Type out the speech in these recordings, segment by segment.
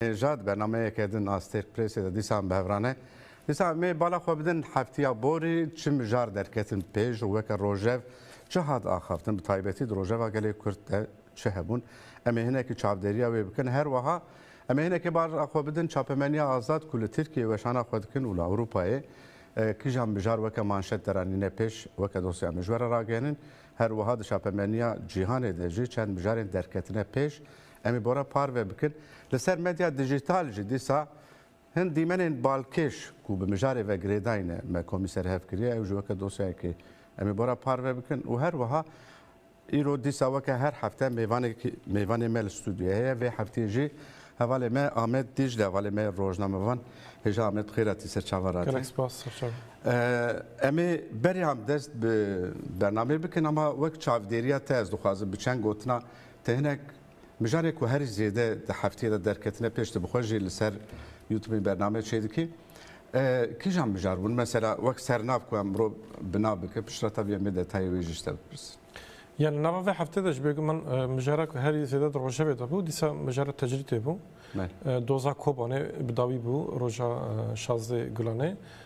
Ja di bernameyeke din a Stêrk Pressê de dîsan bi hevran e. Dîsa em ê bala xwe bidin heftiya borî çi mijar derketin pêş û weke rojev çi hat axaftin bi taybetî di rojeva gelê Kurd de çi hebûn. Em ê hinekî çavdêriya wê bikin. Her weha em ê hinekî bala xwe bidin çapemeniya azad ku li Tirkiyeyê weşana xwe dikin û li Ewropayê kîjan mijar weke manşet deranîne pêş weke dosya mijwere ragenin. Her weha di çapemeniya cîhanê de jî çend mijarên derketine pêş Em ê bora parve bikin. Li ser medya dijîtal jî dîsa hin dîmenên balkêş ku bi mijarê ve girêdayîne me komî ser hev kiriye, ew jî weke dosyayekê em ê bora parve bikin û her wiha îro dîsa weke her hefte mêvanekî mêvanê me li stûdyoyê heye. Vê hefteyê jî hevalê me Amed Dîcle hevalê me ye rojnamevan. Hêja Amed xêr hatî ser Çava Radyoyê. Gelek spas ser Çava. Em ê beriyan dest bi bernameyê bikin ama wek çavdêriya te ez dixwazim bi çend gotina Te hinek mijarê ku herî zêde di hefteyê de derketine pêş te bi xwe jî li ser Youtubê bername çê dikî. Kîjan mijar bûn? Mesela wek sernav ku em miro bi nav bikin piştretev yên bê detayê wê jî ji te bipirsin. Ya li nava vê heftê de ji bêguman min mijara ku herî zêde di rojevê de bû dîsa mijara tecrîtê bû. Doza Kobanê bi dawî bû roja şazdê gulanê.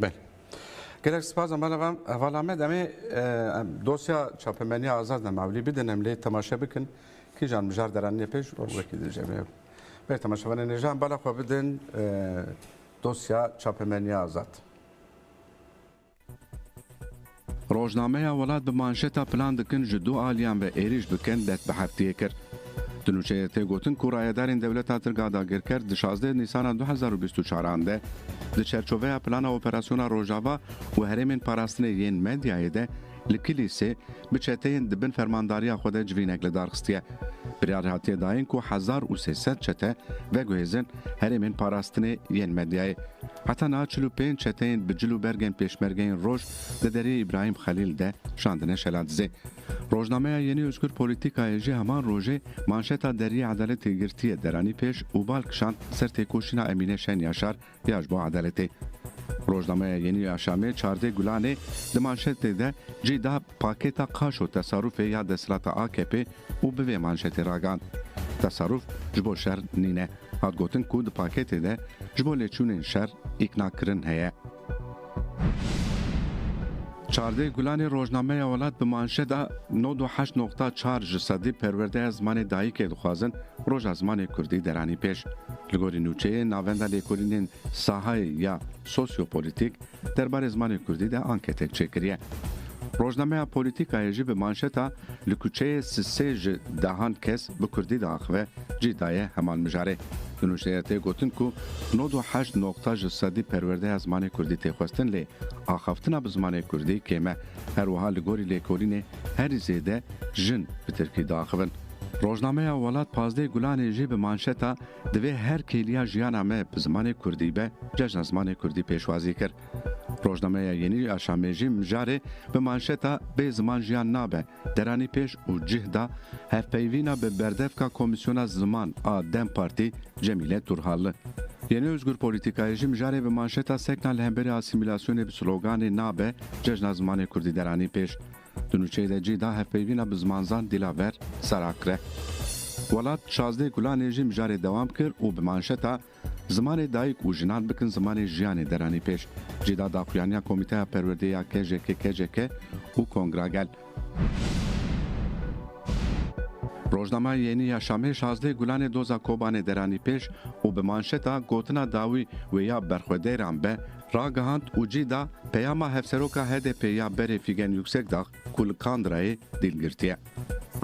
Belê. Gelek spas Amala Vam. Heval Amed em ê dosya çapemeniya Azad Nemavlî bidin em lê temaşe bikin. Kîjan mijar deranîne pêş û wekî din jê bê. Bê temaşevanên ê jî em bala xwe bidin dosya çapemeniya Azad. Rojnameya Welat bi manşeta Plan dikin ji du aliyan ve êrîş bikin dest bi heftiyê kir. Di nûçeyê de tê gotin ku rayedarên dewleta Tirka dagirker di şazdeh Nîsana du hezar û bîst û çar an de di çerçoveya Plana Operasyona Rojava û Herêmên Parastinê yên Medyayê de li Kilîsê bi çeteyên di bin fermandariya xwe de civînek lidarxistiye. Biryar hatiye dayin ku hezar û sê sed çete veguhêzin Herêmên parastinê yên medyayê heta niha çil û pênc çeteyên bi cil û bergên pêşmergeyên roj di deriyê Îbrahîm Xelîl de şandine şela dizê. Rojnameya Yeni Özgür Politika'yê jî heman rojê manşeta Deriyê Edaletê girtiye deranî pêş û bal kişand ser têkoşîna Emîne Şen Yaşar ya ji bo edaletê. Rojnameya Yeni Yaşamê Çardê Gulanê di manşetê de cî da Pakêta qaşo tesarufê ya desthilata AKP'ê û bi vê manşetê ragihand, Tesaruf ji bo şer nîne. Hat gotin ku di pakêtê de ji bo lêçûnên şer îknakirin heye. Çardeh Gulanê rojnameya Welat bi manşeta nod û heşt noqta çar ji sedî perwerdeya zimanê dayikê dixwazin roja zimanê kurdî deranî pêş. Li gorî nûçeyê navenda lêkolînên sahayê ya sosyopolîtîk Derbarê zimanê kurdî de anketek çêkiriye. Rojnameya Polîtîkayê jî bi manşeta Li kuçeyê Sisê ji dehan kes bi kurdî diaxive cî daye heman mijarê. Di nûçeya tê gotin ku nod û heşt noqta ji sedî perwerdeya zimanê kurdî tê xwestin lê axaftina bi zimanê kurdî kêm e. Her wiha li gorî lêkolînê herî zêde jin bi tirkî diaxivin. Rojnameya Welat Pazdeh Gulanê jî bi manşeta Divê her kêliya jiyana me bi zimanê kurdî be, Cejna Zimanê Kurdî pêşwazî kir. Rojnameya Yenî ya Şamêjî mijarê bi manşeta Bê ziman jiyan nabe deranî pêş û cih da hevpeyvîna bi berdevka Komîsyona Ziman a dem Partî Cemîle Turhalli. Yenî Ozgur Polîtîkayê jî mijarê bi manşeta Sekna li hemberî asîmîlasyonê bi sloganê Nabe Cejna Zimanê Kurdî deranî pêş. Di nûçeyê de cî da hevpeyvîna bi zimanzan Dîlaver Sarakre. Welat Şazdeh Gulanê jî mijarê dewam kir û bi manşeta Zimanê dayik û jinan bikin zimanê jiyanê deranî pêş. Cî da daxuyaniya Komîteya Perwerdeyê ya KJKKJK û Kongra Gel. Rojnama Yenî ya Şamê Şazdeh Gulanê doza Kobanê deranî pêş û bi manşeta Gotina dawî wê ya berxwedeyran be ragihand û cih da peyama Hevseroka HDP'ê ya berê Fîgen Yuksekdag ku li Kandrayê dîl girtiye.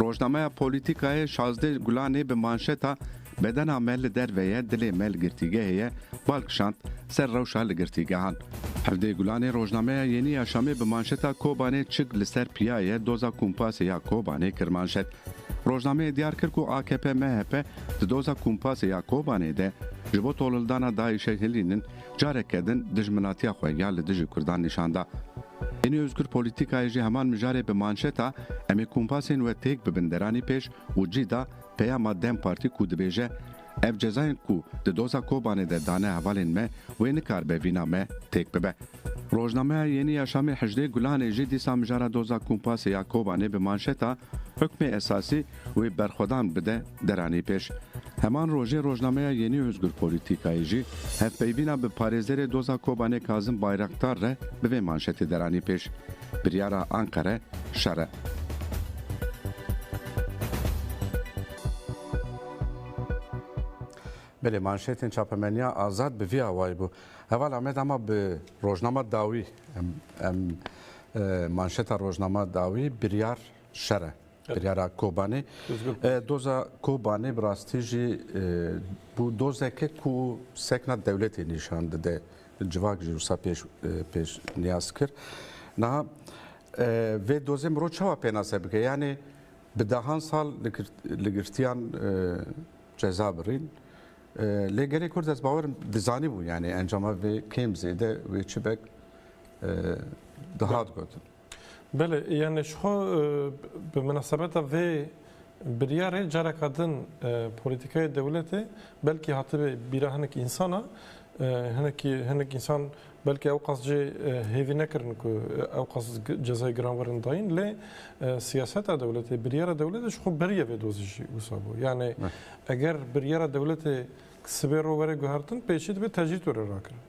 Rojnameya Polîtîkayê Şazdê Gulanê bi manşeta Bedena me li derve ye, dilê me li girtîgehê ye bal kişand ser rewşa li girtîgehan. Hevdê Gulanê rojnameya Yenî ya Şamê bi manşeta Kobanê çik li ser piya ye, doza kumpasê ya Kobanê kir manşet. Rojnameyê diyar kir ku akp-mhp di doza kumpasê ya Kobanê de ji bo tolildana DAIŞ'ê hilînin, Careke din dijminatiya xwe ya li dijî Kurdan nîşan da. Ênî Ozgur Polîtîkayê jî heman mijarê bi manşeta Em ê kompasên we têk bibin deranî pêş û cî da peyama dem Partî ku dibêje, Ev cezayên ku di doza Kobanê de dane hevalên me wê nikaribe vîna me têk bibe. Rojnameya Yeni Yaşamê Hejdê Gulanê jî dîsa mijara doza kompasê ya Kobanê bi manşeta Hukmê Esasî, wê berxwedan bide deranê pêş. Heman rojê rojnameya Yenî Ozgur Polîtîkayê jî hevpeyvîna bi parêzerê doza Kobanê Kazim Bayraktar re bi vê manşetê deranê pêş, Biryara Anqere şer e. Belê manşetên çapemeniya Azad bi vî awayî bû. Heval Amed ama bi rojnama dawî em manşeta rojnama dawî biryar şer e. Biryara Kobanê. Doza Kobanê bi rastî jî bû dozeke ku sekna dewletê nîşan dide. Civak jî wisa pêş pêş niyaz kir. Niha vê dozê mirov çawa pênase bike? Yanê bi dehan sal li girtiyan ceza birîn. Lê gelê Kurd ez bawerim dizanî bû yanê encama vê kêm zêde wê çi bek dihat gotin. Belê, yanî ji xwe bi minasebeta vê biryarê careka din polîtîkaya dewletê belkî hatibê bîra hinek însan a, hinekî hinek însan belkî ew qas jê hêvî nekirin ku ew qas cezayê giranvirin dayîn lê siyaseta dewletê, biryara dewletê ji xwe beriya vê dozê jî wisa bû. Yanî eger biryara dewletê sibê ro were guhertin pêşî dibe tecrîd were rakirin.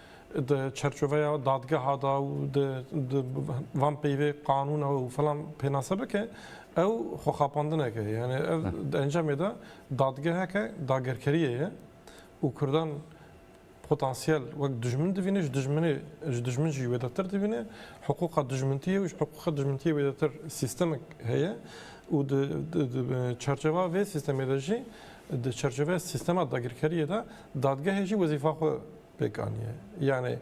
Di çerçoveya dadgeha de û di van peyvê qanûna û filan pênase bike ew xwexapandineke ye. Yanî ev di encamê de dadgeheke dagerkeriyê ye û Kurdan potansiyel wek dijmin dibîne, ji dijminê ji dijmin jî wêdetir dibîne. Hiqûqa dijmintiyê û ji hiqûqa dijmintiyê wêdetir sîstemek heye û di çerçeveya vê sîstemê de jî di çerçeveya sîstema dagirkeriyê de dadgehê jî wezîfa xwe pêk aniye. Yanî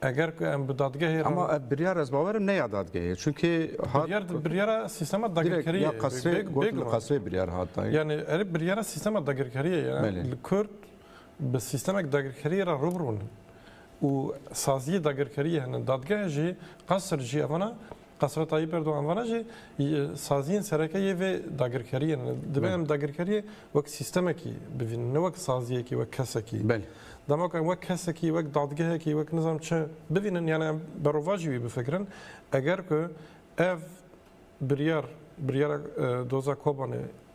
eger ku em bi dadgehê re Ama ev biryar ez bawerim ne ya dadgehê. Çunkê hat biryar di biryara sîstema direkt dagirkeriyê ya ye. qesrê Bê- gotin bêguman. qesrê biryar hat dayîn. Yani erê biryara sîstema dagirkeriyê ye. Belê. Li Kurd bi sîstemek dagirkeriyê re rû bi rû ne. Û saziyê dagirkeriyê hene. Dadgeh jî, qesr jî evana Qasra Tayyîp Erdogan vana jî saziyên sereke yê vê dagirkeriyê ne. Dibe em dagirkeriyê wek sîstemekî bivînin ne wek saziyekî wek kesekî. Dema ku em wek kesekî wek dadgehekî wek nizanim çi bivînin yanî em berovajî wî bifikirin eger ku ev biryar biryara doza Kobanê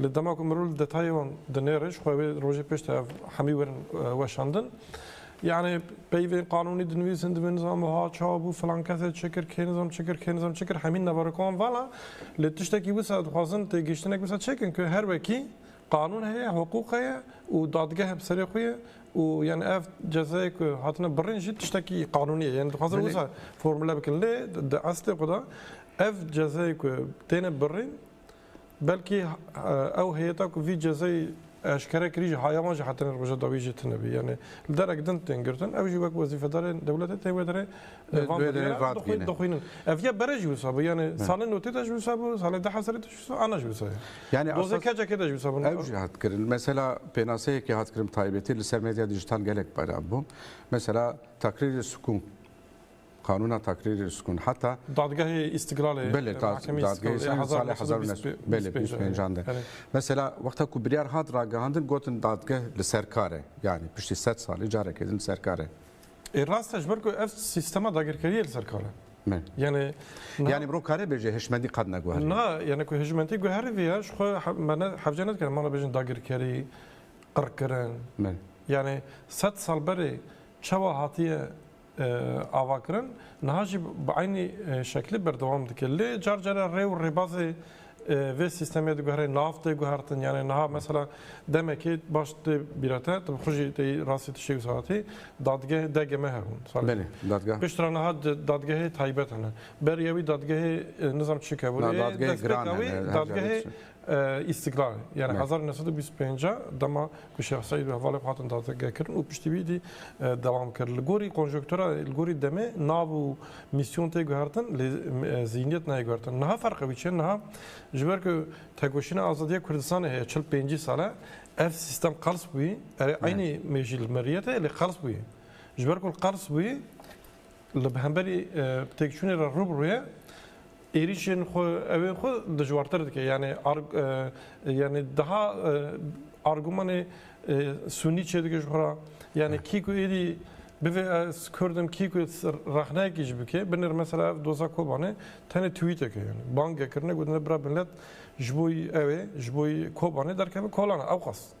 Lê dema ku mirov li detayê wan dinêre jixwe wê rojê pêş de ev hemî werin weşandin. Yanî peyvên qanûnî dinivîsin divê nizam wiha çawa bû, filan kesê çi kir, kê nizam çi kir, kê nizam çi kir hemî nevarokên wan vala. Lê tiştekî wisa dixwazin têgihiştinek wisa çêkin ku her wekî qanûn heye, hiqûq heye û dadgeh bi serê xwe ye û yanî ev cezayê ku hatine birîn jî tiştekî qanûnî ye. Yanî dixwazin wisa formule bikin. Lê di eslê xwe de ev cezayê ku têne birîn Belkî ew heyeta ku vî cezayê eşkere kirî jî hayaman jî hatine roja dawî jî tune bî. Yanî li derek din tên girtin. Ew jî wek wezîfedarên dewletê tê wê derê dixwînin. Ev ya bere jî wisa bû. Yanî salê notê de jî wisa bû, salê duh hezirê de jî wisa, ana jî wisa ye. Yanî dozê keçekê de jî wisa bû. Ew jî hat kirin. Mesela pênaseyekê hat kirin bi taybetî li ser medya dîjîtal gelek belav bû. Mesela takrîrê sikûn. Qanûna Takrîrê Riskunû heta. Dadgehê Îstîklalê. Belê, dadgehê Îstîklalê hezar û neh sed û neh belê bîst û pênc an de. Mesela wexta ku biryar hat ragihandin gotin dadgeh li ser kar e. Yanî piştî sed salî carekê din li ser kar e. Ê rast e ji ber ku ev sîstema dagirkeriyê li ser kar e. Yanî. Yanî mirov kare bêje hişmendî qet neguherî. Na, yanî ku hişmendî guheriviya ji xwe me ne hevce nedikare wana bêjin dagirkerî, qirkirin. Yanî sed sal berê çawa hatiye. avakirin niha jî bi eynî şeklî berdewam dike. Lê car care rê û rêbazê vê sîstemê diguhere nav tê guhertin yanê niha mesela demekê baş tê bîra te tu xwe jî tê rastî tu şêwis hatî dadgeh DGM hebûn. Belê dadgeh. Piştre niha dadgehê taybet hene. Beriya wî dadgehê nizam çi kevûrê. Dadgehê giran hene. Dadgehê Îstîklalê yanî hezar û neh sed û bîst û pênc e dema ku Şêx Seîd û hevalên xwe hatin dazgekirin û piştî wî dî dewam kir. Li gorî konjonktura, li gorî demê nav û mîsyon tê guhertin lê zînîyet nayê guhertin. Niha ferqa wî çi ye? Niha ji ber ku tekoşîna azadiya Kurdistanê heye çil pêncî sal e ev sîstem qels bûyî. Erê eynî mêjî li miriyetê ye lê qels bûyî. Ji ber ku li qels bûyî. Li hemberî têkçûnê re rû bi rû ye, êrîşên xwe ewên xwe dijwartir dike. Yanî yanî daha argûmanê sûnî çêdike ji xwe re. Yanî kî ku êdî bivê ez kurd im, kî ku rexneyekî jî bike, binir mesela ev doza Kobanê tenê twîtek e. Yanî bang e kirine gotin bira millet ji bo ew ê, ji bo Kobanê derkeve kolan e ewqas.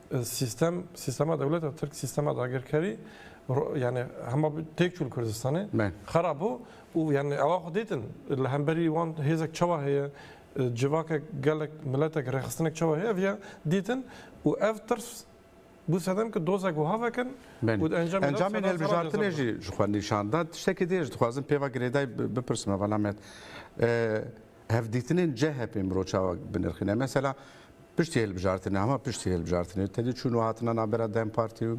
Sîstem, sîstema dewleta Tirk, sîstema dagirkerî yanî hema têk çû li Kurdistanê xera bû û yanî ewa xwe dîtin li hemberî wan hêzek çawa heye, civakek, gelek, miletek, rêxistinek çawa heye ev ya dîtin û ev tirs bû sedem ku dozek wiha vekin û di encamê de Encamên hilbijartinê jî ji xwe nîşan da. Tiştekî dê ji dixwazim pê ve girêdayî bipirsim hevalame hevdîtinên CHP'ê miro çawa binirxîne. Mesela Piştî hilbijartinê, hema piştî hilbijartinê tedî çûn û hatina navbera dem Partî û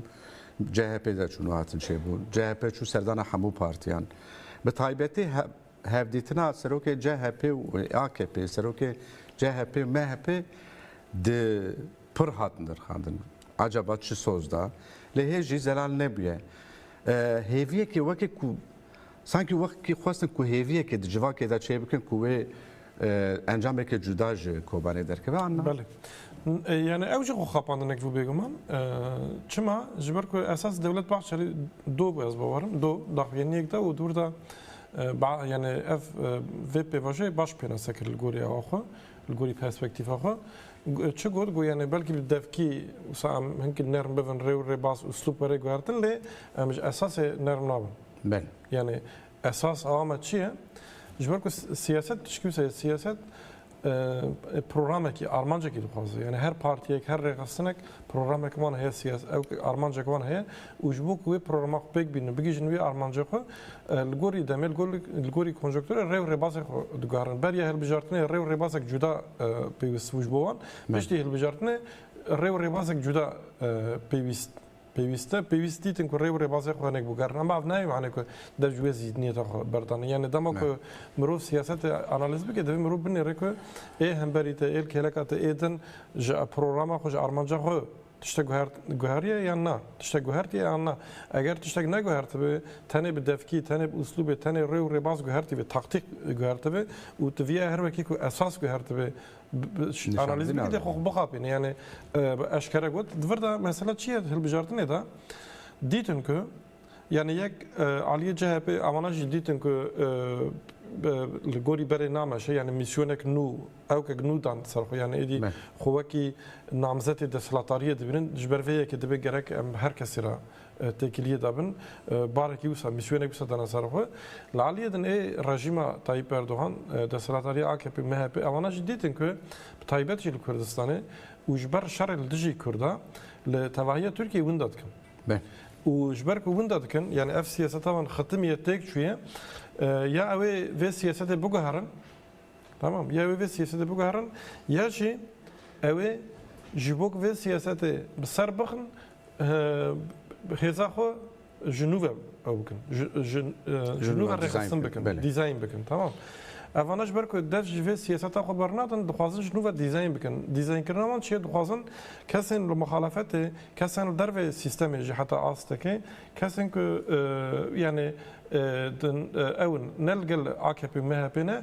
CHP'ê de çûn û hatin çêbûn. CHP çû serdana hemû partiyan. Bi taybetî hevdîtina serokê CHP'ê û AKP'ê, serokê CHP'ê û MHP'ê di pir hat nirxandin. Acaba çi soz da? Lê hê jî zelal nebûye. Hêviyekê weke ku Sankî wexkî xwestin ku hêviyekê di civakê de çê bikin ku wê encameke cuda ji Kobanê derkeve an na? Belê. Yani ew jî xwe xapandinek bû bêguman. Çima? Ji ber ku esas Dewlet Bahçelî do bû ez bawer im. Do daxuyaniyek da û dûrda yani ev vê pêvajoyê baş pênase kir li gorî awa xwe, li gorî perspektîfa xwe. Çi got ku yani belkî bi devkî wisa em hinekî nerm bibin rê û rêbaz, uslûb were guhertin lê em ji esasê nerm nabin. Ben. Yanî esas awa me çi ye? Ji ber ku siyaset tu çikî wisa siyaset programekî armancekî dixwaze. Yanî her partiyek her rêxistinek programek wan heye siyaset ew armancek wan heye û ji bo ku wê programa xwe pêk bînin û bigihîjin wê armanca xwe li gorî demê li gorî konjoktura rê û rêbazê xwe diguherin. Beriya hilbijartinê rê û rêbazek cuda pêwîst bû ji bo wan. Piştî hilbijartinê rê û rêbazek cuda pêwîst Pêwîste pêwîst dîtin ku rê û rêbazê xwe hinek biguherin. Em av nayê mane ku dev ji wê zî niyeta xwe berdane. Yanî dema ku mirov siyasetê analîz bike divê mirov binêre ku ê hemberî te, ê kêleka te, ê din ji programa xwe, ji armanca xwe tiştek guheriye yan na? Tiştek guhertiye yan na? Eger tiştek neguhertibe tenê bi devkî, tenê bi uslûbê, tenê rê û rêbaz guhertîbe, taktîk guhertibe û tu vîyayê her wekî ku esas guhertibe, Analiz bikî dê xwe xwe bixapîne yanî bi eşkere got di vir de mesela çi ye di hilbijartinê de dîtin ku yanî yek aliyê CHP'ê a wana jî dîtin ku li gorî berê nameşe yanî mîsyonek nû ewkek nû dan ser xwe yanî êdî xwe wekî namzetê desthilatariyê dibînin ji ber vê yekê dibê gerek em her kesî re têkiliyê de bin, barekî wisa mîsyonek wisa dana ser xwe. Li aliyê din ê rejîma Tayyîp Erdogan, desthilatdarîya akp, mhp ewana jî dîtin ku bi taybet jî li Kurdistanê û ji ber şerê li dijî Kurda li tevahiya Tirkiyeyê winda dikin. Û ji ber ku winda dikin yanî ev siyaseta wan xitimiye, têk çûye. Ya ewê vê siyasetê biguherin temam, ya ewê vê siyasetê biguherin ya jî ewê ji bo ku vê siyasetê bi ser bixin Hêza xwe ji nû ve ew bikin. Ji nû ve rêxistin bikin, dîzayn bikin. Tamam. Evana ji ber ku dev ji vê siyaseta xwe bernadin, dixwazin ji nû ve dîzayn bikin. Dîzaynkirina wan çi ye? Dixwazin kesên li muxalefetê, kesên li dervê sîstemê jî heta astekê, kesên ku yanî ew in, ne li gel AKP'ê û MHP'ê ne,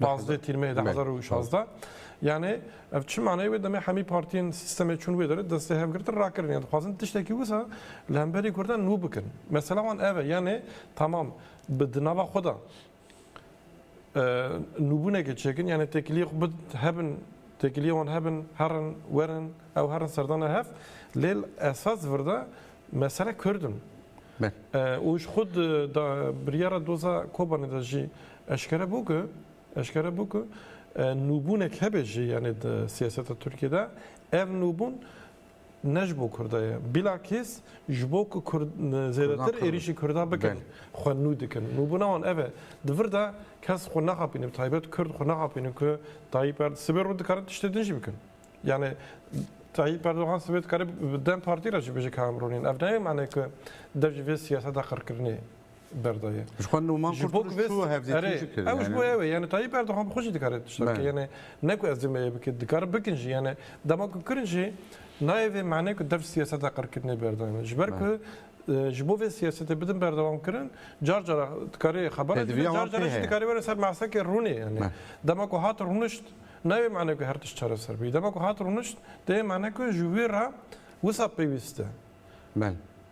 Pazdeh tîrmeyê de hezar û şazdeh. Yanê ev çi maneyê wê demê hemî partiyên sîstemê çûn wê derê destê hevgirtin rakirin yan dixwazin tiştekî wisa li hemberî kurdan nû bikin. Mesela wan ev e yanê tamam bi di nava xwe de nûbûnekê çêkin yanê têkiliyê xwe bid hebin têkiliyê wan hebin herin werin ew herin serdana hev lê li esas vir de mesele kurd in. Û ji xwe di biryara doza Kobanê de jî Eşkere bû ku eşkere bû ku nûbûnek hebe jî yanê di siyaseta Tirkiyê de ev nûbûn ne ji bo Kurda ye. Bilakîs ji bo ku Kurd zêdetir êrîşî Kurda bikin xwe nû dikin. Nûbûna wan ev e. Di vir de kes xwe naxapîne bi taybet Kurd xwe naxapîne ku Tayyîp Erdogan sibê rû dikare tiştê din jî bikin. Yanê Tayyîp Erdogan sibê dikare bi dem partî re jî bêje ka em rûnên. Ev nayê manê ku dev ji vê siyaseta qirkirinê berdaye. Ji xwe Numan Kurtuluş çû hevdîtî jî kir. Ew ji bo ew e. Yanî Tayyîp Erdogan bi xwe jî dikare tiştek bike. Yanî ne ku ez dê me yê bikin. Dikare bikin jî. Yanî dema ku kirin jî nayê vê manê ku dev siyaseta qirkirinê berdayîn. Ji ber ku ji bo vê siyasetê bidin berdewamkirin car cara dikarê xeber de dibin, car cara jî dikarê were ser mesekê rûnê. Yanî dema ku hat rûnişt nayê mane ku her tişt çareser bî. Dema ku hat rûnişt dê yê mane ku ji wî re wisa pêwîst e.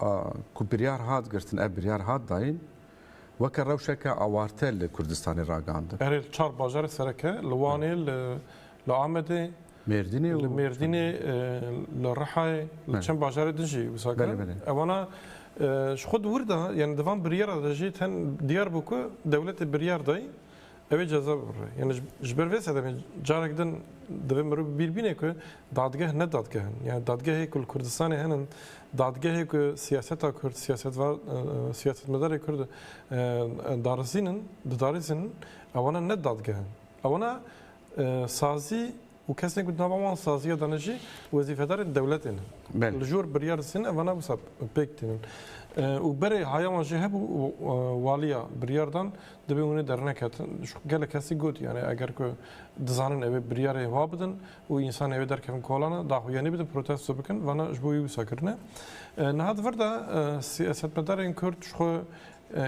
A ku biryar hat girtin ev biryar hat dayîn weke rewşeke awarte li Kurdistanê ragandin. Erê li çar bajarê sereke, li Wanê, li Amedê, li Mêrdînê, li Rihayê, li çend bajarê din jî wisa kirin. Ewana ji xwe di wir de, yanî di van biryara de jî ten diyar bû ku dewletê biryar dayî, Ew ê ceza bibire. Yani ji ber vê sedemê carek din divê mirov bîr bîne ku dadgeh ne dadgeh in. Yani dadgehê ku li Kurdistanê hene dadgehê ku siyaseta Kurd, siyasetva siyasetmedarê Kurd darizînin, didarizînin ewana ne dadgeh in. Ewana sazî Û kesên ku di nava wan saziya de ne jî wezîfedarên dewletê ne. Li jor biryar distînin ev vana wisa pêk tînin. Û berê haya wan jî hebû waliya biryar dan divê hûn ê derneketin. Gelek kesî got yanî eger ku dizanin ew ê biryarê wa bidin û însanê ew ê derkevin kolana daxuyanî bidin protesto bikin vana ji bo wî wisa kirine. Niha di vir de siyasetmedarên kurd ji xwe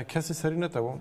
kesî serî netewand.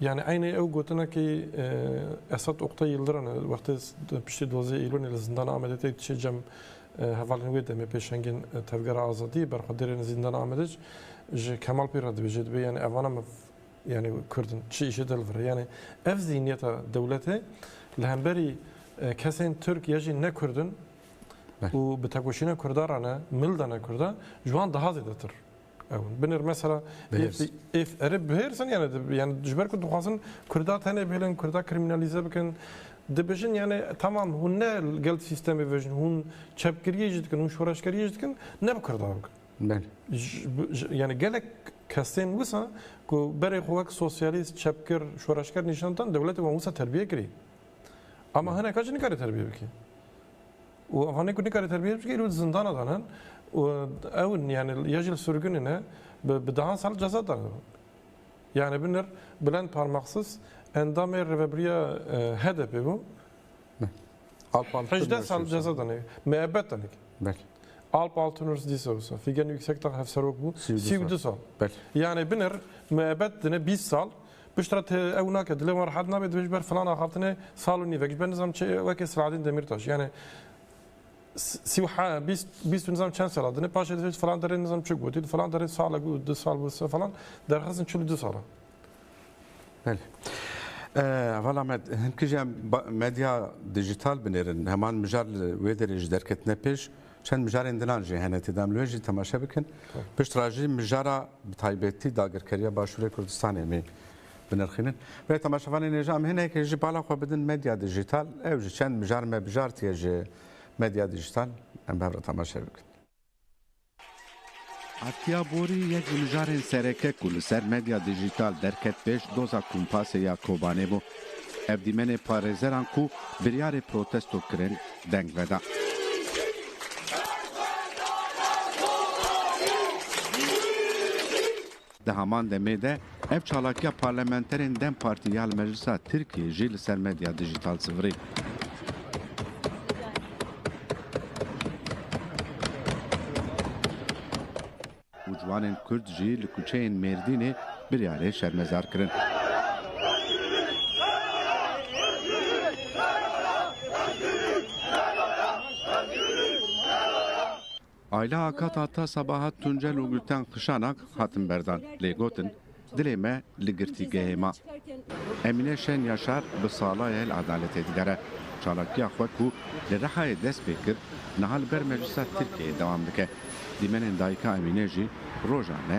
Yanî eynê ew gotinekî Esat Oktay Yildiran e wextê di piştî duwazdeh Eylûlê li Zindana Amedê têk diçê cem hevalên wê demê pêşengên Tevgera Azadiyê berxwedirên Zîndana Amedê ji Kemal Pîr re dibêje dibê yanî evana me yanî Kurd in çi îşê dil vire yanî ev zîhniyeta dewletê li hemberî kesên Tirk ya jî ne Kurd in û bi tekoşîna Kurda re ne milda ne Kurda ji wan daha zêdetir. Ew binir mesela êf erê bihêrsin yani yani ji ber ku dixwazin Kurda tenê bihêlin, Kurda krîmînalîze bikin. Dibijin yani tamam hûn ne gel sîstemê vejin hûn çepkiriyê jî dikin, hûn şoreşkeriyê jî dikin ne bi Kurda bikin. Belê. Yani gelek kesên wisa ku berê xwe wek sosyalîst, çepkir, şoreşker nîşan dan dewletê wan wisa terbiye kirî. Ama hineka jî nikare terbiye bikî. Û evanê ku nikare terbiyet bike îro di zindana de ne û ew in yanî ya jî li surgunê ne bi dehan sal ceza dane. Yanî binir Bilend Parmaksis endamê rêvebiriya HDP'ê bû. Hejdeh sal ceza dane. Miebet dane ki. Belê. Alp Altınörs dîsa wisa. Fîgen Yüksekdag hevserok bû. Sî û du sal. Belê. Yanî binir miebet dine bîst sal Piştre ti ew nake dilê wan rehet nabe dibê ji ber filan axavtine sal û nîvek ji ber nizam çi weke Selahaddîn Demîrtaş yanê sî û he bîst bîst û nizam çend sala dine paşê divê ji filan derê nizam çi gotî di filan derê salek û du sal bû se falan derxistin çil û du sal in. Belê. Vala me hin kije medya dijital binêrin heman mijar li wê derê ji derketine pêş Çend mijarên dinan jî hene tê de, em li wê jî temaşe bikin. Piştre jî mijara bi taybetî dagirkeriya Başûrê Kurdistanê em ê binirxînin. Rê temaşevanên ê jî em hinekê jî bala xwe bidin medya dîjîtal. Ew jî çend mijar me bijartiye ji medya dîjîtal. Em bi hev re temaşe bikin. Atiye Borî yek ji mijarên sereke ku li ser medya dîjîtal derket pêş doza Kumpasê ya Kobanê bû. Ev dîmenê parêzeran ku biryarê protesto kirin deng veda. Di heman demê de ev çalakiya parlamenterên dem Partî ya li Meclisa Tirkiyê jî li ser medya dijîtal sivirî. û ciwanên Kurd jî li kuçeyên Mêrdînê biryarê şermezar kirin. Ayla Akat Ata Sabahat Tuncel û Gulten Qişanak hatin berdan lê gotin, Dilê me li girtîgehê ma. Emîne Şen Yaşar bi sala ye li edaletê digere. Çalakiya xwe ku li Rihayê dest pê kir, niha li ber Meclisa Tirkiyeyê dewam dike. Dîmenên dayika Emîne jî rojan e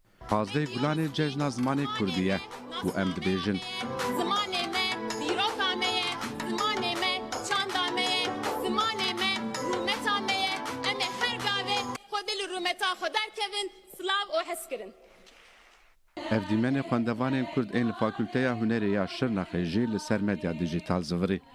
Pazdeh Gulanê Cejna Zimanê Kurdî ye û em dibêjin. Zimanê me dîroka me ye, zimanê me çanda me ye, zimanê me rûmeta me ye, em ê her gavê xwe dil û rûmeta xwe derkevin, silav û hezkirin. Ev dîmenê xwendevanên Kurd ên li Fakulteya Hunerê ya Şirnexê jî li ser medya dîjîtal zivirî.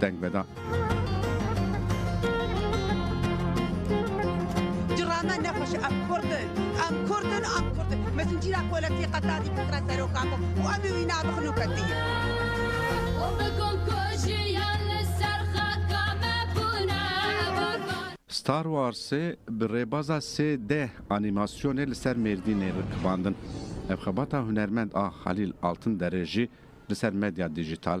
deng veda. Cırame ne xweş em Kurdin, em Kurdin, em Kurdin. Me zincîra kolektiye qetadî bikira seroka xwe û em ê wî nabixin û ketiyê. Star Warsê bi rêbaza sê D anîmasyonê li ser Mêrdînê rikibandin. Ev xebata hunermend a Halîl Altinderê jî li ser medya dîjîtal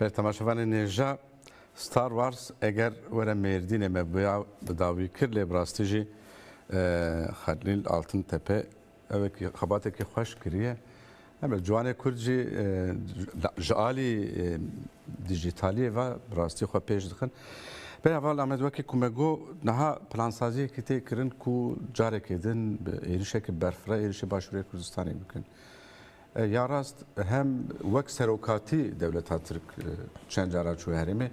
Ber temaşevanê nêja Star Wars eger were Mêrdînê me bûya bi dawî kir lê bi rastî jî Xelîl Altintepe ew xebatekî xweş kiriye. Ebe ciwanê Kurd jî ji alî dijîtaliyê ve bi rastî xwe pêş dixin. Bê heval Amed wekî ku me got niha plansaziyekî tê kirin ku carekê din bi êrişeke berfireh êrişê Başûrê Kurdistanê bikin. Ya rast hem wek serokatî dewleta Tirk çend cara çûye herêmê.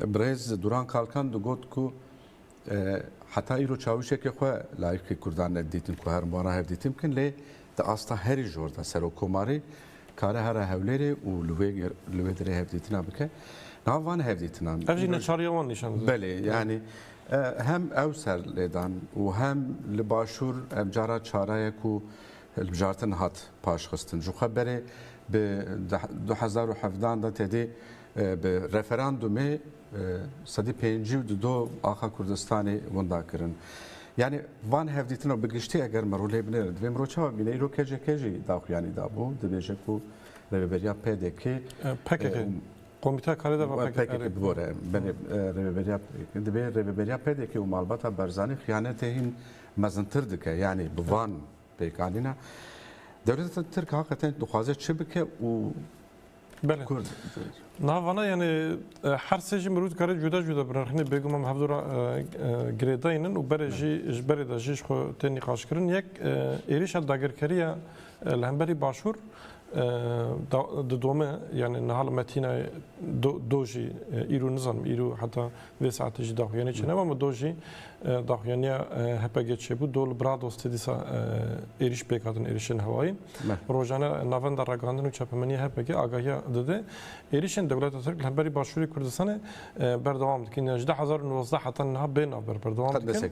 Birêz Duran Kalkan digot ku heta îro çawişekê xwe layîqî Kurdan nedidîtin ku herin wana hevdîtin bikin lê di asta herî jor de Serokkomarî kare here Hewlêrê û li wê derê hevdîtina bike. Niha van hevdîtinan. Ev jî neçariya wan nîşan dide. Belê yanî hem ew ser lêdan û hem li başûr ev cara çare ye ku hilbijartin hat paşxistin ji xwe berê bi du hezar û hevdan de tedê bi referandumê sedî pêncî û du axa Kurdistanê winda kirin. Yani van hevdîtina bi giştî eger miro lê binêrin divê miro çawa bîne îro KCK jî daxuyanî dabû dibêje ku rêveberiya PDK PKK Komîteya Karê de PKK bibore belê rêveberiya divê rêveberiya PDK û malbata Barzanî xiyanetê hîn Mezintir dike yanî bi van pêkanîna dewleta Tirk haqeten dixwaze çi bike û Belê. Kurd. Niha vana yanî her sê jî mirov dikare cuda cuda binirxîne bêguman bi hevdûra girêdayîn in û berê jî ji berê de jî ji xwe tên nîqaşkirin. Yek êrîşa dagirkeriya Li hemberî Başûr di dome yanî niha li Metînê do jî îro nizanim îro heta vê saetê jî daxuyanî çêne ma do jî daxuyaniya HPG çêbû do li Bradostê dîsa êrîş pêk hatin êrîşên hewayî. Rojane navenda ragihandin û çapemenîya HPG agahiya dide. Êrîşên dewleta Tirk li hemberî Başûrê Kurdistanê berdewam dikin. Ji du hezar û nozde heta niha bê navber berdewam dikin.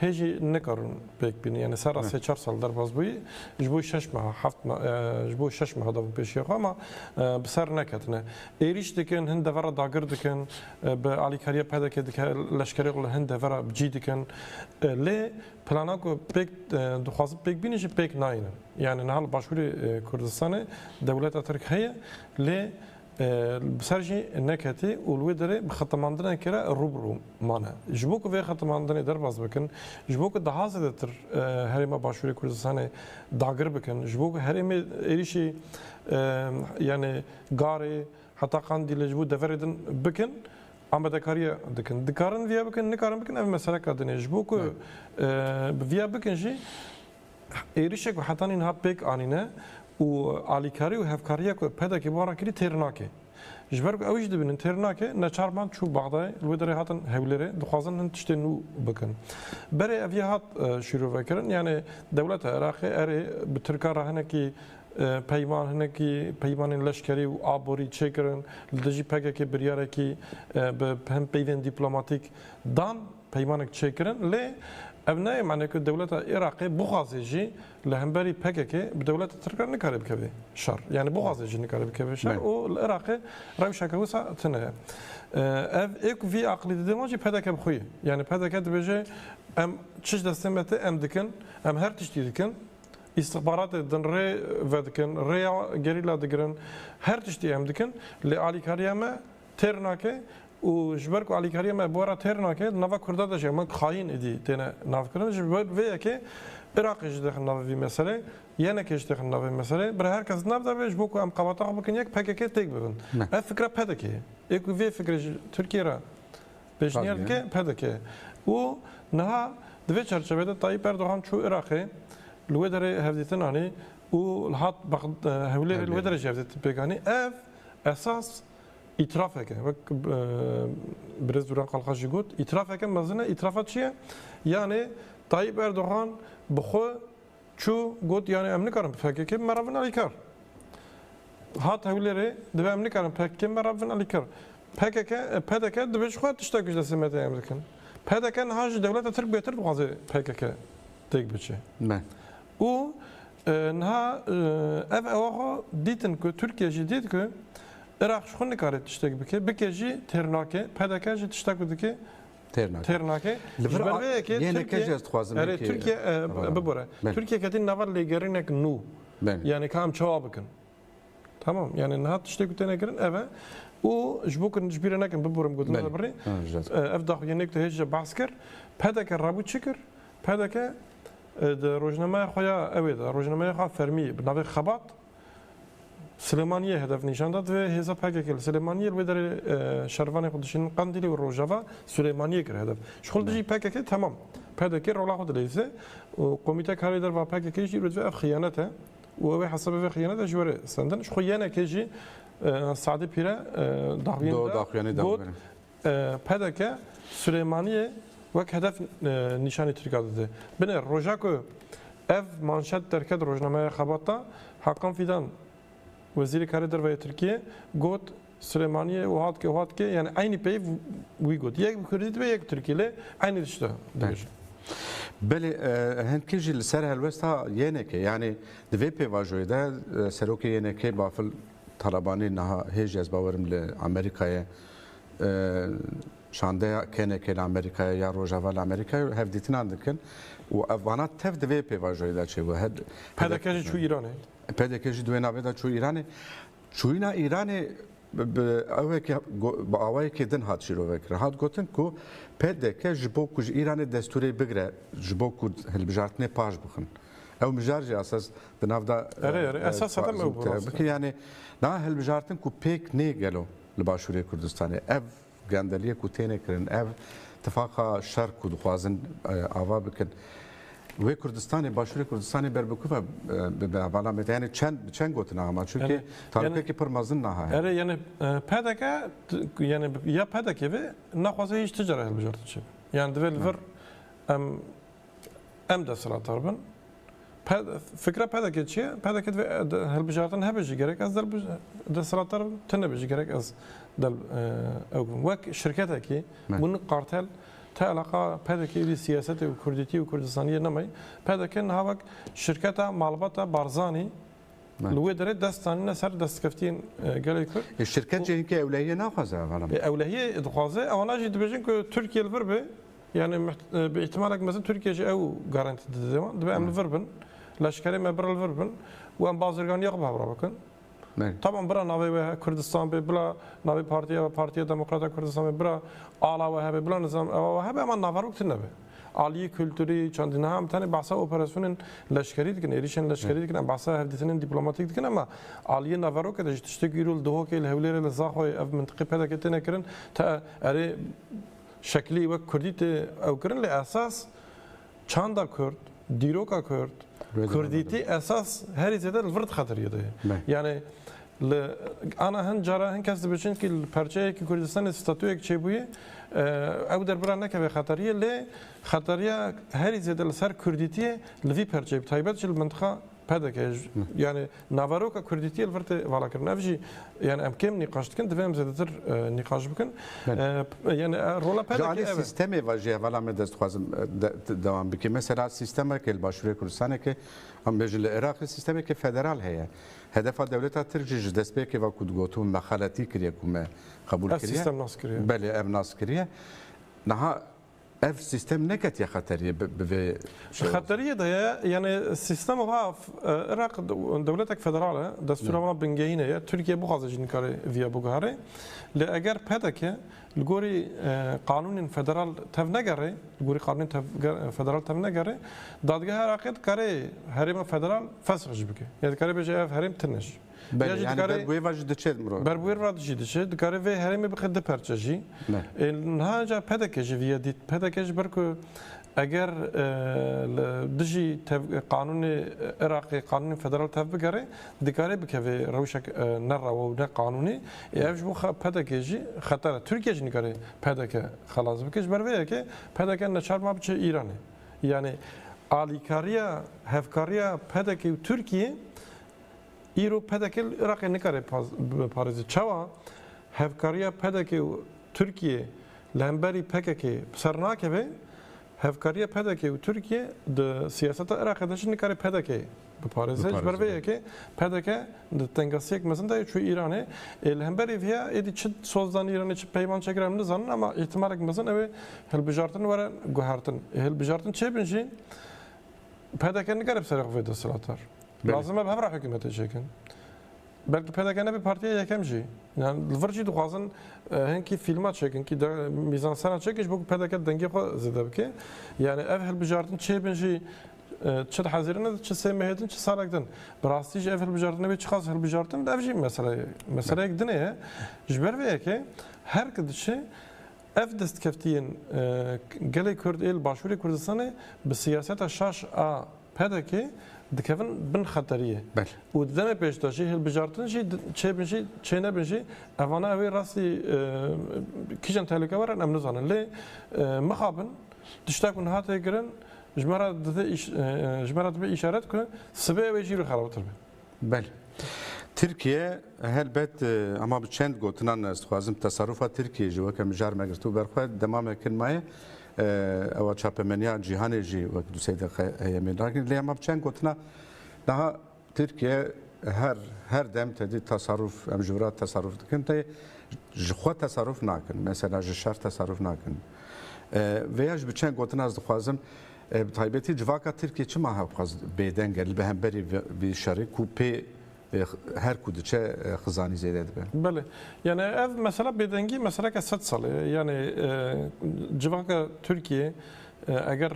Hê jî nikarin pêk bînin. Yanî serra sê çar sal derbas bûyî ji bo şeş meha heft meha ji bo şeş meha dabû pêşiya xwe ma bi ser neketine. Êrîş dikin, hin devera dagir dikin, bi alîkariya PDK'ê dike leşkerê xwe li hin devera bi cî dikin. Lê plana ku pêk dixwazin pêk bînin jî pêk nayînin. Yanî niha li Başûrê Kurdistanê dewleta Tirk heye lê Bi ser jî neketî û li wê derê bi xetemandinekê re rû bi rû mane. Ji bo ku vê xetemandinê derbas bikin, ji bo ku daha zêdetir herêma Başûrê Kurdistanê dagir bikin, ji bo ku herêmê êrîşî yanê Garê heta Qandîlê ji bo deverê din bikin, amadekariya dikin. Dikarin vêya bikin, nikarin bikin ev meseleka din e. Ji bo ku bi vêya bikin jî, Êrişê ku heta nîn hat pêk anîne û alîkarî û hevkariya ku PDK'ê bi wan re kirî têr nake. Ji ber ku ew jî dibînin têr nake, neçar band çû Bexdayê, li wê derê hatin Hewlêrê, dixwazin hin tiştên nû bikin. Berê ev ya hat şîrovekirin, yanê dewleta Iraqê erê bi Tirkan re hinekî peyman, hinekî peymanên leşkerî û aborî çêkirin, li dijî PKK'ê biryarekî bi hin peyvên dîplomatîk dan. peymanek çêkirin lê ev nayê manê ku dewleta Iraqê bixwazê jî li hemberî PKKê bi dewleta Tirk re nikare bikeve şer. Yanî bixwazê jî nikare bikeve şer û li Iraqê rewşeke wisa tune ye. Ev ê ku vî aqilî dide wan jî pdk bi xwe ye. Yanî pdk dibêje em çi ji destê me tê em dikin, em her tiştî dikin, îstixbaratê din rê vedikin, rêya gerîla digirin, her tiştî em dikin lê alîkariya me têr nake û ji ber ku alîkariya me bi we re têr nake di nava Kurda de jî heman xayîn êdî têne navkirin ji ber vê yekê Iraqê jî dixin navê vî meselê, YNK'ê jî dixin navê meselê. Bira her kes di nav de be ji bo ku em qebata xwe bikin yek pkk têk bibin. Ev fikra PDK'ê ye. Ê ku vê fikrê ji Tirkiyê re pêşniyar dike PDK ye. Û niha di vê çerçeveyê de Tayyîp Erdogan çû Iraqê li wê derê hevdîtin anî û hat Hewlêrê li wê derê jî hevdîtin pêk anî. Ev esas Îtirafeke wek ku birêz Dûran Kalkaş jî got, îtirafeke mezin e. Îtirafa çi ye? Yanê Tayyîp Erdogan bi xwe çû got yanê em nikarin bi PKK'ê me re bin alîkar. Hat Hewlêrê divê em nikarin PKK'ê me re bin alîkar. PKK, pdk divê ji xwe tiştek ji destê me tê em dikin. Pdk niha ji dewleta Tirk bêtir dixwaze PKK têk biçe. Û Niha ev ewa xwe dîtin ku Tirkiye jî dît ku Iraq ji xwe nikare tiştek bike, bike jî têr nake, pdk jî tişta ku dike têr nake. Ji ber vê yekê Tirkiye, bibore, Tirkiye ketî nava lêgerînek nû, yanî ka em çawa bikin? Tamam yani niha tiştê ku têne kirin ev e û ji bo kirin ji bîrê nekin biborim gotin te birê ev daxuyên ku te hêj de behs kir PDK rebû çi kir PDK di rojnameya xwe ya ewê de rojnameya xwe fermî bi navê xebat Silêmaniyê hedef nîşan da divê hêza PKK li Silêmaniyê li wê derê şervanê xwe dişînin Qandîlê û Rojava Silêmaniyê kir hedef ji xwe li dijî PKK temam PDK rola xwe dileyse û komîte karê derva PKK jî divê ev xiyanet e û ew ê hesabê vê xiyane de ji we re sendin. Ji xwe yenekê jî Sadî Pîre daxuyên de got pdk Silêmaniyê wek hedef nîşanî Tirka dide. Binê roja ku ev manşet derket rojnameya Xebat de Hakan Fîdan Wezîrê Karê Derve yê Tirkiyê got, Silêmaniyê û hat ke hat ke yani eynî peyv wî got. Yek bi kurdî dibe yek bi tirkî lê eynî tişta dibêje. Belê hindkî jî li ser helwesta YNKê yanî di vê pêvajoyê de serokê YNKê Bafil Talabanî niha hêj ez bawer im li Amerîkayê şandeya KNKê li Amerîkayê ya Rojava li Amerîkayê û hevdîtinan dikin û ev vana tev di vê pêvajoyê de çêbû. PDK jî çû Îranê. PDK jî di wê navê de çû Îranê. Çûyîna Îranê bi ewekî bi awayekî din hat şîrovekirin. Hat gotin ku PDK ji bo ku ji Îranê destûrê bigire ji bo ku hilbijartinê paş bixin. Ew mijar jî esas di nav de Erê erê esas hetem ew bike. Yanê na hilbijartin ku pêk nê gelo li Başûrê Kurdistanê. Ev Gendeliyê ku têne kirin ev tifaqa şer ku dixwazin ava bikin wê Kurdistanê başûrê Kurdistanê ber bi ku ve bibe bala me yani çend bi çend gotina ama çünkü tarikekî pir mezin naha heye. Erê yani PDK yani ya PDK ve naxwaze hiç ticare hilbijartin çi. Yani divê li vir em Em desthilatdar bin. Fikra PDK'ê çi ye? PDK divê hilbijartin hebe jî gerek ez desthilatdar bim, tu nebe jî gerek ez ew bim. Wek şirketekî bûn Kartel te eleqa PDK û siyasetê û kurdîtî û kurdistaniyê nemay. PDK niha wek şirketa malbata Barzanî li wê derê dest danîne ser destkeftiyên gelê Kurd. E, şirket jî hinkî ewlehiyê naxwaze. Ewlehiyê dixwaze, ewana jî dibêjin ku Tirkiye li vir be. Yani bi ihtimalek mezin Türkiye jî ew garantî dide wan. Dibe em li vir bin, leşkerê me bira li vir bin û em bazirganiya xwe bi hev re bikin. Tamam bira navê wê Kurdistan bê, bila navê partiya wê Partiya Demokrata Kurdistan bê, bira ala wê hebe, bila nizam ewa wê hebe ema naverok tune be. Aliyê kulturî, çandî niha em tenê behsa operasyonên leşkerî dikin, êrîşên leşkerî dikin, em behsa hevdîtinên dîplomatîk dikin ema aliyê naverok de jî tiştek îro li Duhokê, li Hewlêrê, li Zaxoyê ev mintiqê PDK'ê têne kirin te erê Şeklî wek kurdî tê ewkirin lê esas çanda kurd, dîroka kurd, kurdîtî esas herî zêde li vir dixetirî de ye. Yanî li ana hin cara hin kes dibêjin kî li perçeyekî Kurdistanê statuyek çêbûye ew derbira nekeve xeterîye lê xeterîya herî zêde li ser kurdîtî ye li vî perçeyê bi taybet jî li mintiqa PDK yanî naveroka kurdîtiyê li vir tê valakirin. Ev jî yanî em kêm nîqaş dikin, divê em zêdetir nîqaş bikin. Yanî rola PDK ev e. Ji alî sîstemê ve jî hevala me dest dixwazim dewam bike. Mesela sîstemeke li Başûrê Kurdistanê ke em bêjin li Iraqê sîstemeke federal heye. Hedefa dewleta Tirk jî ji destpêkê ve ku digotin me xeletî kiriye ku me qebûl kiriye. Ev sîstem nas kiriye. Belê ev nas kiriye. Niha Ev sîstem neketiye xeteriyê bi vê şewatê? Xeteriyê de ye, yanî sîstema wiha Iraq dewletek federal e, destûra wiha bingehîne ye, Tirkiye bixwaze jî nikare vîya biguherê. Lê eger pdk li gorî qanûnên federal tevnegere, li gorî qanûnên federal tevnegere, dadgeha Iraqê dikarê herêma federal fesh jî bike. Yanî dikarê bêje ev herêm tune jî. Belê, yani ber bi wê ve jî diçe mirov. Ber bi wê re jî diçe, dikare vê herêmê bixe du perçe jî. Niha ca PDK'ê jî vîyê dît. PDK ji ber ku eger li dijî qanûnê Iraqê, qanûnê federal tev bigere, dikare bikeve rewşek ne rewa û ne qanûnî. Ê ev ji bo PDK'ê jî xeter e. Tirkiye jî nikare PDK xelas bike. Ji ber vê yekê PDK neçar ma biçe Îranê. Yanî alîkariya, hevkariya PDK'ê û Tirkiyê Îro pdk li Iraqê nikare biparêze. Çawa? Hevkariya pdk û Tirkiyê li hemberî pkk bi ser nakeve, hevkariya pdk û Tirkiyê di siyaseta Iraqê de jî nikare pdk biparêze. Ji ber vê yekê pdk di tengasiyek mezin de ye çû Îranê. Ê li hemberî vê ya êdî çi soz dan Îranê çi peyvan çêkir em nizanin ama îhtimalek mezin ew ê hilbijartin were guhertin. Ê hilbijartin çêbin jî pdk nikare bi serê xwe vê desthilatar. Lazim e bi hev re hikûmetê çêkin. Belkî pdk nebe partiya yekem jî. Yan li vir jî dixwazin hinkî fîlma çêkin kî mîzansena çêkin ji bo ku pdk di dengê xwe zêde bike. Yanî ev hilbijartin çêbin jî çi di hezirîn din çi sê mehê din çi salek din. Bi rastî jî ev hilbijartin nebe çiqas hilbijartin be ev jî mesele ye. Meseleyek din ye. Ji ber vê yekê her ki diçe ev destkeftiyên gelê Kurd ê li Başûrê Kurdistanê bi siyaseta şaş a Pdk dikevin bin xeteriyê û di demê pêşdaşî hilbijartin jî çêbin jî çênebin jî evana ew ê rastî kîjan tehlikewer in em nizanin lê mixabin tiştek ku niha tê kirin ji me re dibe îşaret ku sibê ew ê jî xerabtir be. Belê. Tirkiye helbet ama bi çend gotinan ez dixwazim tesarufa Tirkiyeyê jî weke mijar me girtibû ber xwe demamek in maye ewa çapemeniya cîhanê jî wek du sey deqiqe heye mêr nakiriye lê hema bi çend gotina niha Tirkiye her her dem tedî tesaruf em ji vira tesaruf dikin tê ji xwe tesaruf nakin mesela ji şer tesaruf nakin vêya ji bi çend gotina ez dixwazim Bi taybetî civaka Tirkiyê çima hewxwaz bêdeng e li bi hemberî vî şerê ku pê her ku diçe xizanî zêde dibe? Belê. Yanî ev mesela bêdengî meseleke sed salî ye. Yanî civaka Tirkiyê eger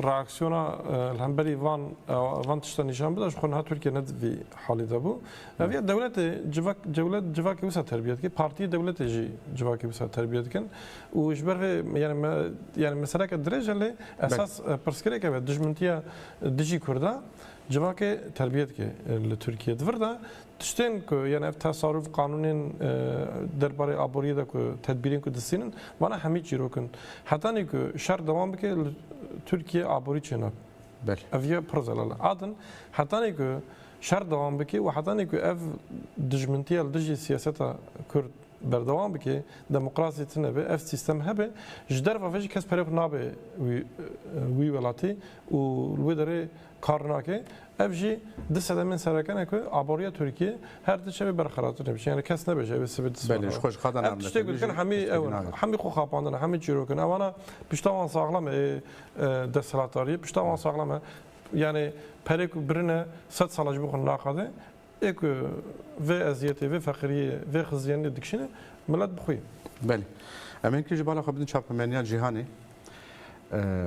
reaksiyona li hemberî van van tiştan nîşan bide ji xwe niha Tirkiye ne di vî halî de bû. Ev ya dewletê civak dewlet civakê wisa terbiyet dike, partiyê dewletê jî civakê wisa terbiyet dikin. û ji ber vê yanî me yanî meseleke dirêj e lê esas pirsgirêk ev e dijmintiya dijî Kurda civakê terbiye dike li Tirkiyê. Di vir de tiştên ku yanî ev tesarûf qanûnên derbarê aboriyê de ku tedbîrên ku distînin wana hemî çîrok in. Hetanî ku şer dewam bike li Tirkiyê aborî çê nabe. Ev ya pir zelal e. A din hetanî ku şer dewam bike û hetanî ku ev dijmintiya li dijî siyaseta Kurd, Berdewam bike, demokrasî tune be, ev sîstem hebe, ji derva ve jî kes pere xwe nabe wî welatî û li wê derê kar nake. Ev jî di sedemên sereke ne ku aboriya Tirkiyê her di çemê berxerabtir dibe. Yani kes nebe ji ev sivê distan. Belê ji xwe ji qada name. Ev tiştê ku dikin hemî ew in. Hemî xwe xapandin e, hemî çîrok in. Ew ana pişta wan saxlem e desthilatdariyê. Pişta wan saxlem e. Yani perê ku birine sed sala ji bo xwe naqade. Ê ku vê eziyetê, vê feqiriyê, vê xiziyeniyê dikişîne milet bi xwe ye. Belê. Em ê hinkî ji bala xwe bidin çapemeniya cîhanê.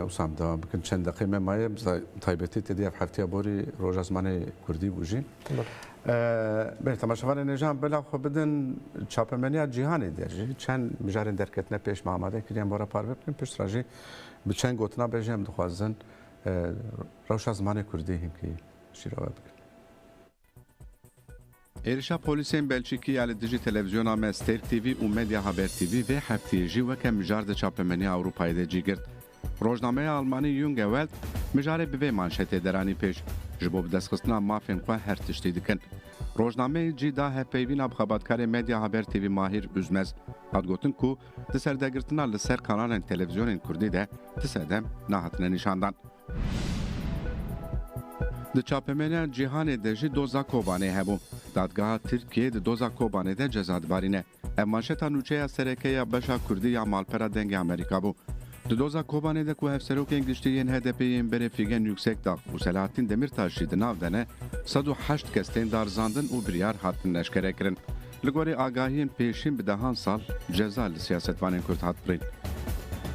Wisa dewam bikin çend deqeyê me maye bi taybetî tê de ev hefteya borî roja zimanê kurdî bû jî. Belê temaşevanên êjan bila xwe bidin çapemeniya cîhanê de jî çend mijarên derketine pêş me amade kirin em were parve bikin pişt re jî bi çend gotina be jî em dixwazin rewşa zimanê kurdî hinkî şîrove bikin. Êrişa polîsên Belçîkî ya li dijî televîzyona me Ster TV û Medya Haber TV vê hefteyê jî weke mijar di çapemeniya Ewropayê de cî girt. Rojnameya almanî Junge Welt mijarê bi vê manşetê deranî pêş, Ji bo bidestxistina mafên xwe her tiştî dikin. Rojnameyê cî da hevpeyvîna bi xebatkarê Medya Haber TV Mahîr Üzmez. Hat gotin ku di serdegirtina li ser kanalên televîzyonên kurdî de ti sedem nahatine nîşandan. Di çapemeniya cîhanê de jî doza Kobanê hebû. Dadgeha Tirkiyê di doza Kobanê de ceza dibarîne. Ev manşeta nûçeya sereke ya beşa kurdî ya malpera Dengê Amerîka bû. Di doza Kobanê de ku hevserokên giştî yên HDP'ê yên berê Fîgen Yuksekdag û Selahattin Demîrtaş jî di nav de ne, sed û heşt kes tên darizandin û biryar hatin neşkerekirin. Li gorî agahiyên pêşîn bi dehan sal ceza li siyasetvanên Kurd hat birîn.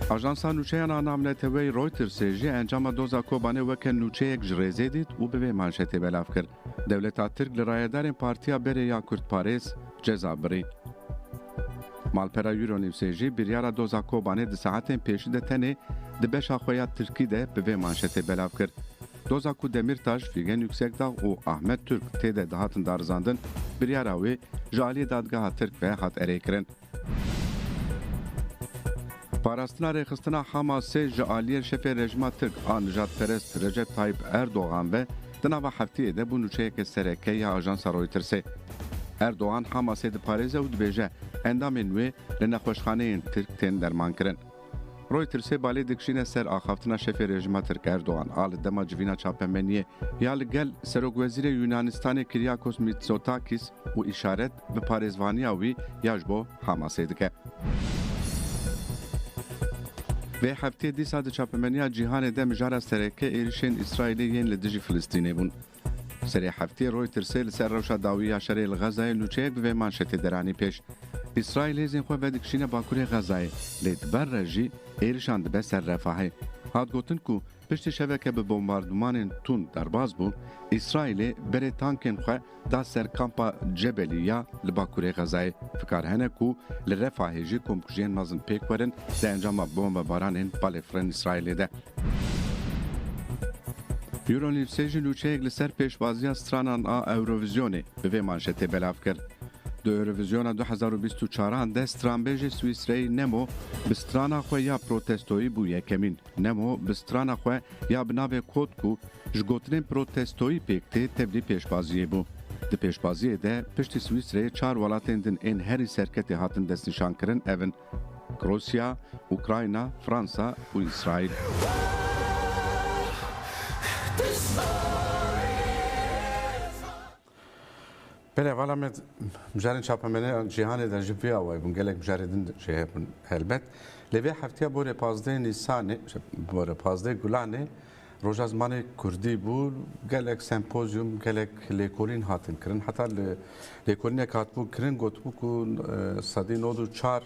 Ajansa nûçeyan a navneteweyî Reutersê jî encama doza Kobanê weke nûçeyek ji rêzê dît û bi vê manşetê belav kir, Dewleta Tirk li rayedarên Partiya Berê ya Kurdparêz ceza birî. Malpera Euronewsê jî biryara doza Kobanê di saetên pêşî de tenê di beşa xwe ya Tirkî de bi vê manşetê belav kir, Doza ku Demîrtaş, Fîgen Yuksekdag û Ahmet Turk tê de dihatin darizandin, biryara wê ji aliyê dadgeha Tirk ve hat erêkirin. Parastina rêxistina Hamasê ji aliyê şefê rejîma Tirk a nijadperest Recep Tayyîp Erdogan ve di nava hefteyê de bû nûçeyeke sereke ya ajansa Reutersê. Erdogan Hamasê diparêze û dibêje endamên wê li nexweşxaneyên Tirk tên dermankirin. Reutersê balê dikişîne ser axaftina şefê rejîma Tirk Erdogan a li dema civîna çapemeniyê ya li gel Serokwezîrê Yûnanistanê Kyriakos Mitsotakis û îşaret bi parêzvaniya wî ya ji bo Hamasê dike. Vê heftê dîsa di çapemeniya cîhanê de mijara sereke êrişên Îsraîlê yên li dijî Filistînê bûn. Serê heftê Reutersê li ser rewşa dawî ya şerê li Xezayê nûçeyek bi vê manşetê deranî pêş, Îsraîl hêzên xwe vedikişîne bakurê Xezayê, lê di ber re jî êrişan dibe ser Refahê. Hat gotin ku piştî şeveke bi bombardumanên tund derbas bû, Îsraîlê berê tankên xwe da ser kampa Cebelî ya li bakurê Xezayê. Fikar hene ku li Refahê jî komkujiyên mezin pêk werin di encama bombebaranên balêfirin Îsraîlê de. Eurolidsê jî lûçeyek li ser pêşbaziya stranan a Eurovizyonê bi vê manşetê belav kir, Di Eurovizyona du hezar û bîst û çaran de stranbêjê Swîsreyî Nemo bi strana xwe ya protestoyî bû yekemîn. Nemo bi strana xwe ya bi navê Kod ku ji gotinên protestoyî pêk tê tevlî pêşbaziyê bû. Di pêşbaziyê de piştî Swîsreyê çar welatên din ên herî serketê hatin destnîşankirin ev in. Rusya, Ukrayna, Fransa û Îsraîl. Belê vala me mijarên çapemeneyan cîhanê de ji vê awayî bûn. Gelek mijarê din jî hebûn helbet. Lê vê hefteya borê pazdeh Nîsanê, borê pazdeh Gulanê Roja Zimanê Kurdî bû, gelek sempozyum, gelek lêkolîn hatin kirin. Heta li lêkolînek hatibû kirin gotibû ku sedî nod û çar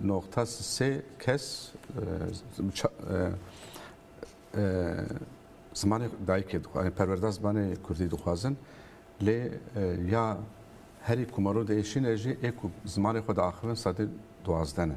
noqta sê kes zimanê dayikê dixwazin, perwerda zimanê Kurdî dixwazin. Lê ya herî ku Marû de ê şîn e jî ê ku zimanê xwe diaxivin sedî duwazdeh ne.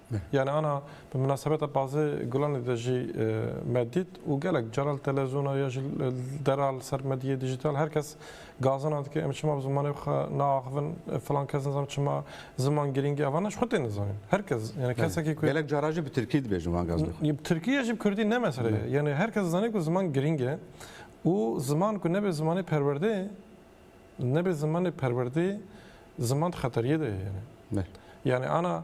Yanî ana bi minasebeta Pazê Gulanê de jî me dît û gelek cara li televîzyona ya jî li dera li ser medyayê dîjîtal her kes gazana dike em çima bi zimanê xwe naaxivin, filan kes nizam çima ziman girîng e. Ev ana ji xwe tê nizanîn. Her kes yanî kesekî ku. Gelek cara jî bi tirkî dibêjin van gaz dixin. Bi tirkî ye jî bi kurdî ne mesele ye. Yanî her kes dizane ku ziman girîng e û ziman ku nebe zimanê perwerdeyê Nebe zimanê perwerdeyê ziman di xeteriyê de ye. Yanî ana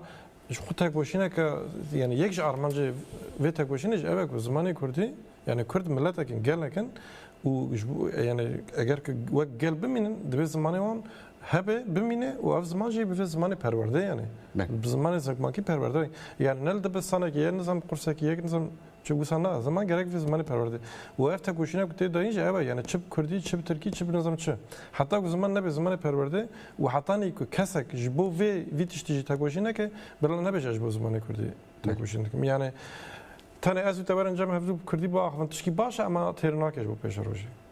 ji xwe têkoşîneke yanî yek ji armancê vê têkoşînê jî ev e ku zimanê kurdî yanî kurd miletek in gelek in û yanî eger ki wek gel bimînin divê zimanê wan hebe bimîne û ev ziman jî bivê zimanê perwerdeyê yanî bi zimanê zikmakî perwerde yani ne li dibistanekî ye nizam qursekî yek nizam Çi wisa na, ziman gerek vê zimanê perwerdê. Û ev tekoşîna ku tê dayîn jî ev e, yanî çi bi kurdî, çi bi tirkî, çi bi nizam çi. Heta ku ziman nebe zimanê perwerdê û hetanî ku kesek ji bo vê vî tiştî jî tekoşî neke, birêla nebêje ez ji bo zimanê kurdî tekoşîn dikim. Yanî tenê ez û te werin cem hevdû bi kurdî biaxivin tişkî baş e, ema têr nake ji bo pêşerojê.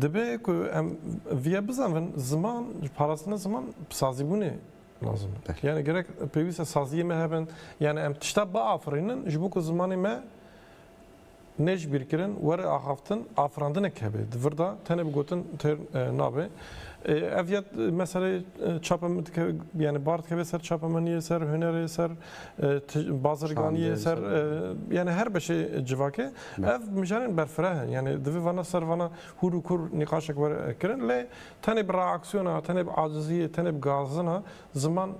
Dibe ku em viye bizanvin ziman parastina ziman sazîbûnê lazim e. Yani gerek pêwîste saziyê me hebin yani em tişta biafirînin ji bo ku zimanê me ne ji bîrkirin were axaftin afirandinek hebe di vir de tenê bi gotin têr e, nabe e, ev ya meselê e, çapa min dike yani bar dikeve ser çapa min yê ser hunerê ser Bazirganiyê ser yanî her beşê civakê ev mijarên berfireh in. Yanî divê vana ser vana hûr û kûr nîqaşek were kirin lê tenê bi reaksiyona, tenê bi aciziyê, tenê bi gazina ziman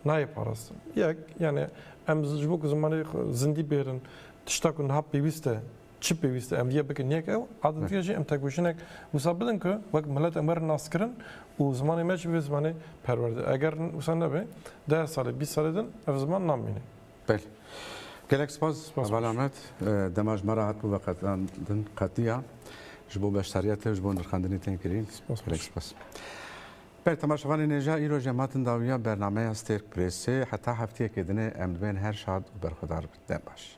nayê parastin. Yek yanî em ji bo ku zimanê zindî bêrin tişta ku niha pêwîst e Çi pêwîste em vîyê bikin yek ew a din dîya jî em têkoşînek wisa bidin ku wek milet em werin naskirin û zimanê me jî bibe zimanê perwerde. Eger wisa nebe deh salê bîst salê din ev ziman namîne. Belê. Gelek spas Heval Amed. Dema ji me re hatibû veqetandin qetiya ji bo beşdariya te û ji bo nirxandinê tên kirîn. Gelek spas. Belê temaşevanên êja îro jî em hatin dawiya bernameya Stêrk Prêsê. Heta hefteyekê din e em dibên her şad û berxwedar bin. Dem baş.